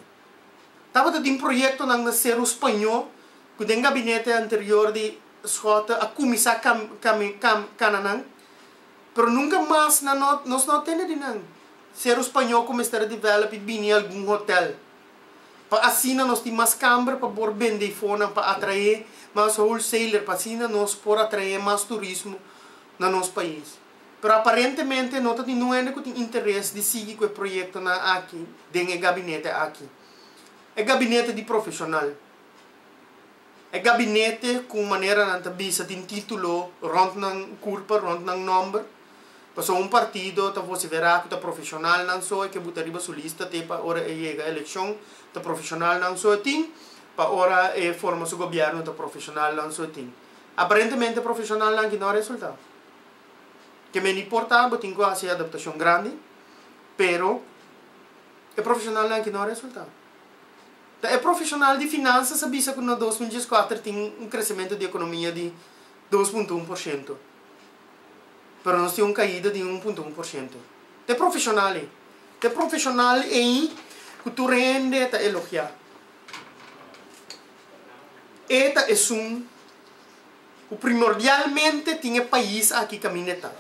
[SPEAKER 3] Tabata tin proyectonan na Cerro Spañó cu den gabinete anterior di Schotten a cuminsa cana nan, pero nunca mas nos no a tende di nan. Cerro Spañó cu mester a develop y bini algun hotel. Pa asina nos tin mas kamber pa por bende i fonan pa atraé mas wholesaler pa asina nos por atraé mas turismo na nos pais. Pero aparentemente no ta tin nun hende ku tin interes di sigui ku e proyektonan aki den e gabinete aki. E gabinete di profeshonal. E gabinete ku manera nan ta bisa tin título rònt nan kurpa, rònt nan nòmber. Pasobra un partido ta voce verá ku ta profeshonalnan so e ke buta riba su lista te pa ora e yega elekshon ta profeshonalnan so e tin, pa ora e forma su gobièrnu ta profeshonalnan so e tin. Aparentemente profeshonalnan aki no a resultá. Ke men di por ta bo tin ku hasi e adaptashon grandi, pero e profeshonalnan aki no a resultá. Ta e profesional di finansas a bisa ku na dos mil dieskuater tin un kresementu di ekonomia di dos punto un por shento, pero nos tin un kaida di un punto un por shento. Ta e profesional ei. Ta e profesional ei ku tur hende ta elogiá. E ta esun. ku primordialmente tin e pais aki kaminda e ta,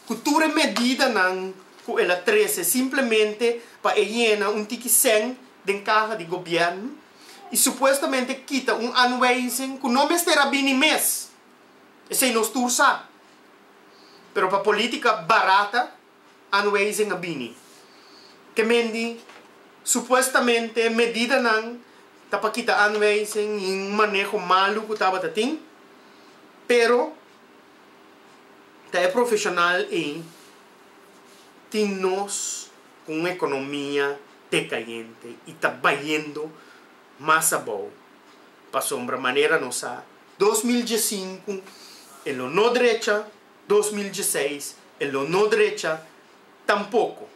[SPEAKER 3] ku tur e medidanan ku el a trese simplemente pa e yena un tiki sèn den kaha di gobièrnu i supuestamente kita un anwijzing ku no mester a bini mes. Esei nos tur sa. Pero pa polítika barata. Anwijzing a bini. Kemendi supuestamente medidanan ta pa kita anwijzing i un maneho malu ku tabata tin, pero ta e profeshonal ei tin nos ku un ekonomia dekayente i ta bayendo mas abou. Pasobra manera nos sa dos mil diesinku e lo no drecha dos mil dieseis e lo no drecha tampoko.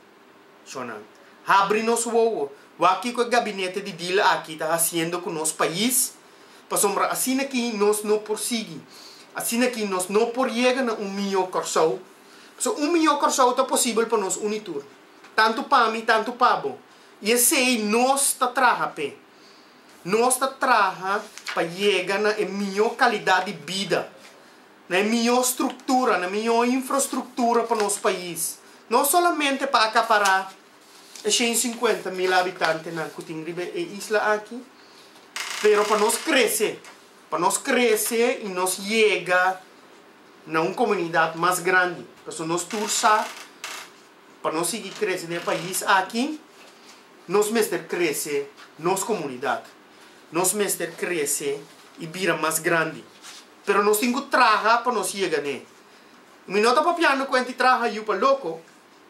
[SPEAKER 3] Cho nan. Habri nos wowo. Wak kiko e gabinete di dila aki ta hasiendo ku nos pais. Pasobra asina ki nos no por sigui. Asina ki nos no por yega na un mihó Kòrsou. Pasobra un mihó Kòrsou ta posibel pa nos uni tur. Tantu pa mi, tantu pa bo. I esei nos ta traha p'e. Nos ta traha pa yega na e mihó kalidat di bida. na e mihó struktura, na mihó infrastruktura pa nos pais, no solamente pa akapará e shen i sinkuenta mil abitantenan ku tin riba e isla aki, pero pa nos krese, pa nos krese i nos yega na un komunidat mas grandi, pasobra nos tur sa pa nos sigui krese na e pais aki nos mester krese nos komunidat, nos mester krese i bira mas grandi. Pero nos tin cu traha pa nos yega n'e. Mi no ta papiando cuenta e traha yu pa loco.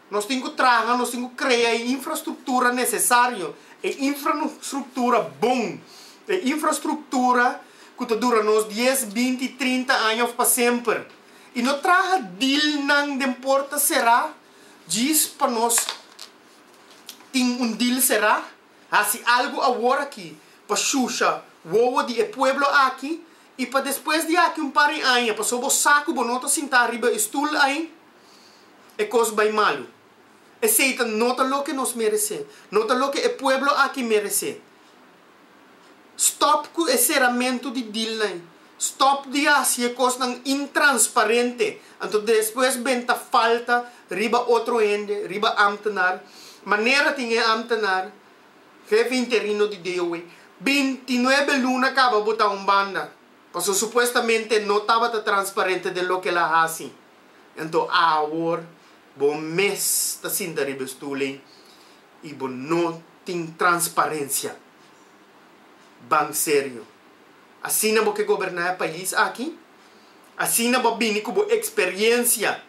[SPEAKER 3] Nos tin cu traha, nos tin cu crea e infrastructura necesario, e infrastructura bon, e infrastructura cu ta dura nos dies, binti, trinta aña of pa semper. Y no traha dealnan den porta cera djis pa nos tin un deal cera. Haci algo aworaci pa shusha wowo di e pueblo aki. I pa despues di aki un par di aña, pasobra bo sa ku bo no ta sintá riba e stul ei, e kos bai malu. Esei ta no ta loke nos meresé. No ta loke e pueblo aki meresé. Stòp ku e seramentu di dilnan ei. Stòp di hasi e kosnan intransparente, anto despues ben ta falta riba otro hende, riba ámtenar. Manera tin e ámtenar. Hefe interino di DOW, bintinuebe luna kaba botá un banda, pasobra supuestamente no tabata transparente den loke el a hasi. Anto awor bo mes ta sinta riba e stul'ey i bo no tin transparencia. Ban serio. Asina bo ke goberná e pais aki? Asina bo a bini ku bo experiencia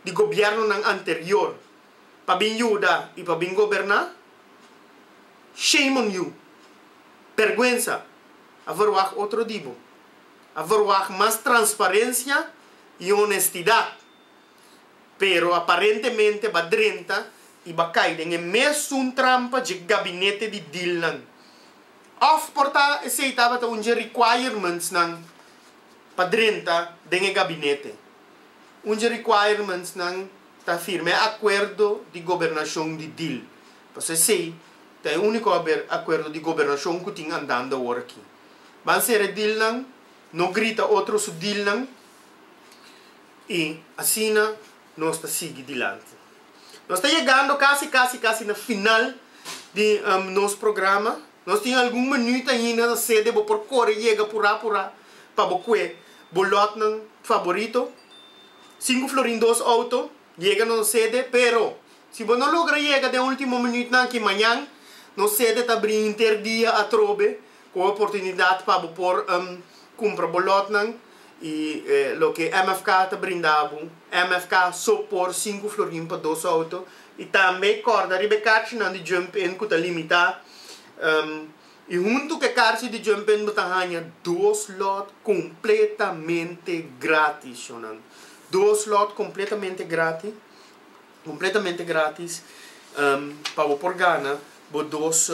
[SPEAKER 3] di gobiernonan anterior? pa bin yuda y pa bin goberna? Shame on you! Berguensa! A verwag otro di bo. A verwag mas transparencia y honestidad, pero aparentemente ba drenta y ba cay den e mesun trampa dje gabinete di dealnan. Of por ta esey tabata un dje requirements nan pa drenta den e gabinete. Un dje requirementsnan ta firma e akuerdo di gobernashon di dil. Pasobra esei ta e úniko akuerdo di gobernashon ku tin andando awor aki. Ban sera e dilnan, no grita otro su dilnan i asina nos ta sigui dilanti. Nos ta yegando kasi kasi kasi na final di nos programa. Nos tin algun minuut ainda ta sede bo por kore yega purá purá pa bo kue bo lotnan faborito. Sinku florin dos outo yega nos sede pero si bo no logra yega den ultimo minuutnan ki mañan nos sede ta abri hinter dia atrobe ku e oportunidat pa bo por kumpra bo lotnan. y loke MFK ta brinda bo, MFK so por sinku florin pa dos auto y tambe corda riba e carchi nan di jump in cu ta limita y hunto cu e carchi di jump in bo ta hanja dos lot completamente gratis, yonan, dos lot completamente gratis. Completamente gratis pa bo por gana bo dos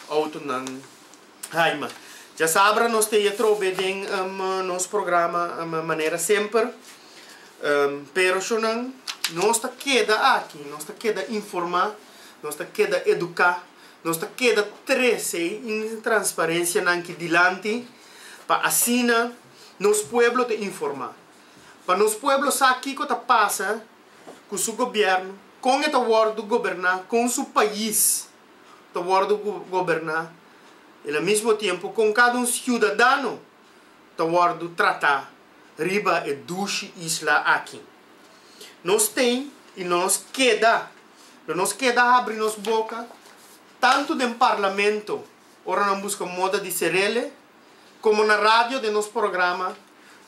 [SPEAKER 3] autonan Haima. Dja sabra nos ta e atrobe den nos programa manera semper. Pero shonan nos ta keda aki, nos ta keda informa, nos ta keda educa, nos ta keda trece e intransparencia nan ki dilanti pa asina nos pueblo ta informa. Pa nos pueblo sa kico ta pasa. ku su gobièrnu, kon e ta wòrdu goberná, kon su pais ta wòrdu goberná i na mismo tiempu kon kada un siudadano ta wòrdu tratá riba e dushi isla aki. Nos ten i nos keda, lo nos keda habri nos boka tantu den parlamento ora nan buska moda di serele, Komo na radio den nos programa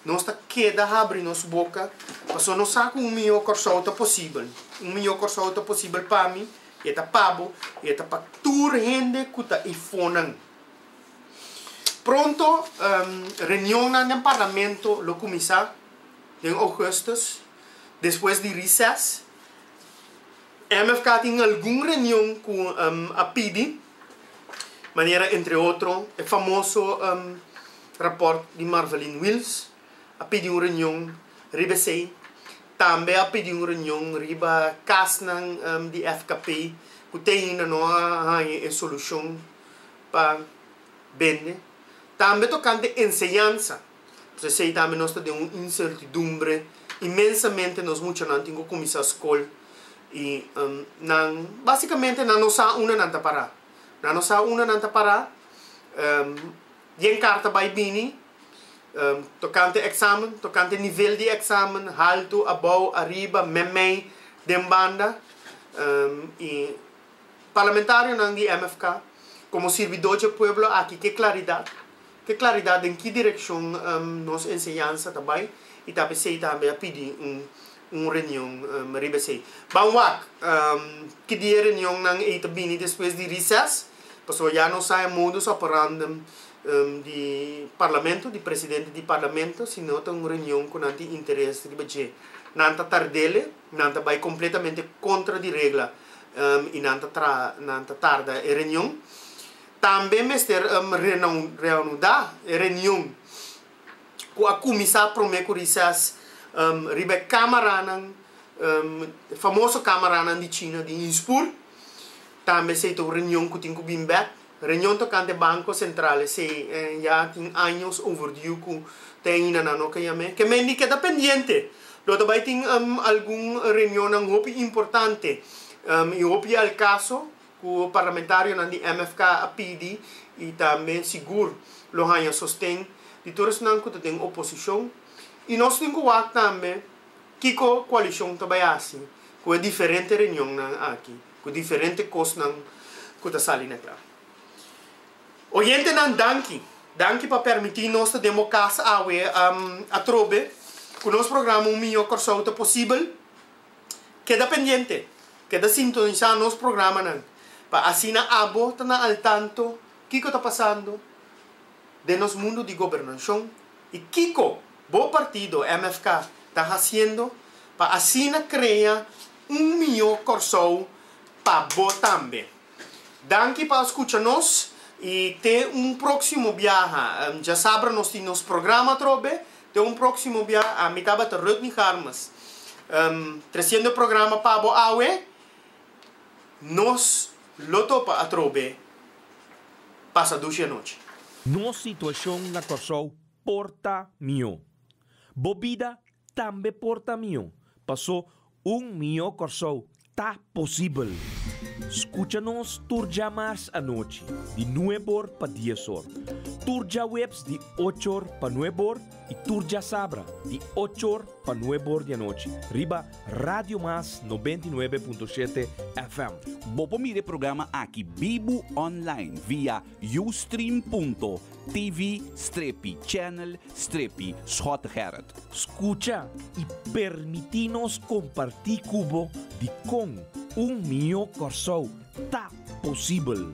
[SPEAKER 3] nos ta keda habri nos boka pasobra nos sa ku un mihó Kòrsou ta posibel. Un mihó Kòrsou ta posibel pa mi i e ta pa bo i e ta pa tur hende ku ta ifonan. Pronto reunionnan den parlamento lo kuminsá den Ougùstùs despues di risès. MFK tin algun reunion cu a pidi manera entre otro e famoso rapport di Marvaline Wills, a pidi un reunion riba esey, tambe a pidi un reunion riba casnan di FKP cu te ainda no a haña e solucion pa bende, tambe tocante enseñansa. P'esei esei tambe nos ta den un insertidumbre inmensamente. Nos muchanan tin ku kuminsá skol i nan básikamente nan no sa unda nan ta pará. Nan no sa unda nan ta pará. Den karta bai bini tokante eksamen, tokante nivel di eksamen, haltu, abou, ariba, mèmèi, den banda. I parlamentarionan di MFK komo sirbidódje pueblo aki ke klaridat Te claridad den ki direccion nos enseñansa ta bay y tal vez esey tambe a pidi un reunion riba esey. Ban wak ki dia e reunionnan ey ta bini despues di recess pasobra ya nos sa e modus operandi di Parlamento, di presidente di Parlamento si no ta un reunion cu nan tin interes riba dje nan ta tardele, nan ta bay completamente contra di regla y nan ta tarda e reunion. Tambe mester reanuda e reunion cu a cuminsa prome cu rises riba e camaranan, e famoso camaranan di China di Inspur. Tambe esey ta un reunion cu tin cu bin bek. Reunion tocante Banco Central esey ya tin años overdue cu ta aina nan no caya me. Kemendi keda pendiente lo ta bay tin algun reunionnan hopi importante y hopi al caso. Ku parlamentarionan di MFK a pidi i tambe sigur lo haña sosten di tur esnan ku ta den oposishon. I nos tin ku wak tambe kiko koalishon ta bai hasi ku e diferente reunionnan aki, ku diferente kosnan ku ta sali na kla. Oyentenan danki. Danki pa permití nos ta den bo kas awe atrobe ku nos programa Un Mihó Kòrsou ta posibel. Keda pendiente, keda sintonisá nos programanan pa asina abo ta na al tanto kiko ta pasando den nos mundu di gobernashon i kiko bo partido MFK ta hasiendo pa asina krea un mihó Kòrsou pa bo tambe. Danki pa a skucha nos i te un próksimo biaha. Djasabra nos tin nos programa atrobe. Te un próksimo bia, ami tabata Rudney Garmes, trasiendo e programa pa bo awe. Nos lo topa atrobe pasa dushi anochi. Nos situashon
[SPEAKER 1] na Kòrsou por ta mihó. Bo bida tambe por ta mihó. Pasó un mihó Kòrsou Ta posibel! Skucha nos tur djamars anochi di nueb or pa dies or, tur djaweps di och or pa nueb or i tur djasabra di och or pa nueb or di anochi riba Radio Mas noventa i nuebe punto shete FM. Bo por mira e
[SPEAKER 2] programa aki bibu online via. Ustream.tv strepi channel strepi Schot Gerrit. Scucha
[SPEAKER 1] y permiti nos comparti cu bo di con un miyo Corsou
[SPEAKER 4] ta
[SPEAKER 1] posibel.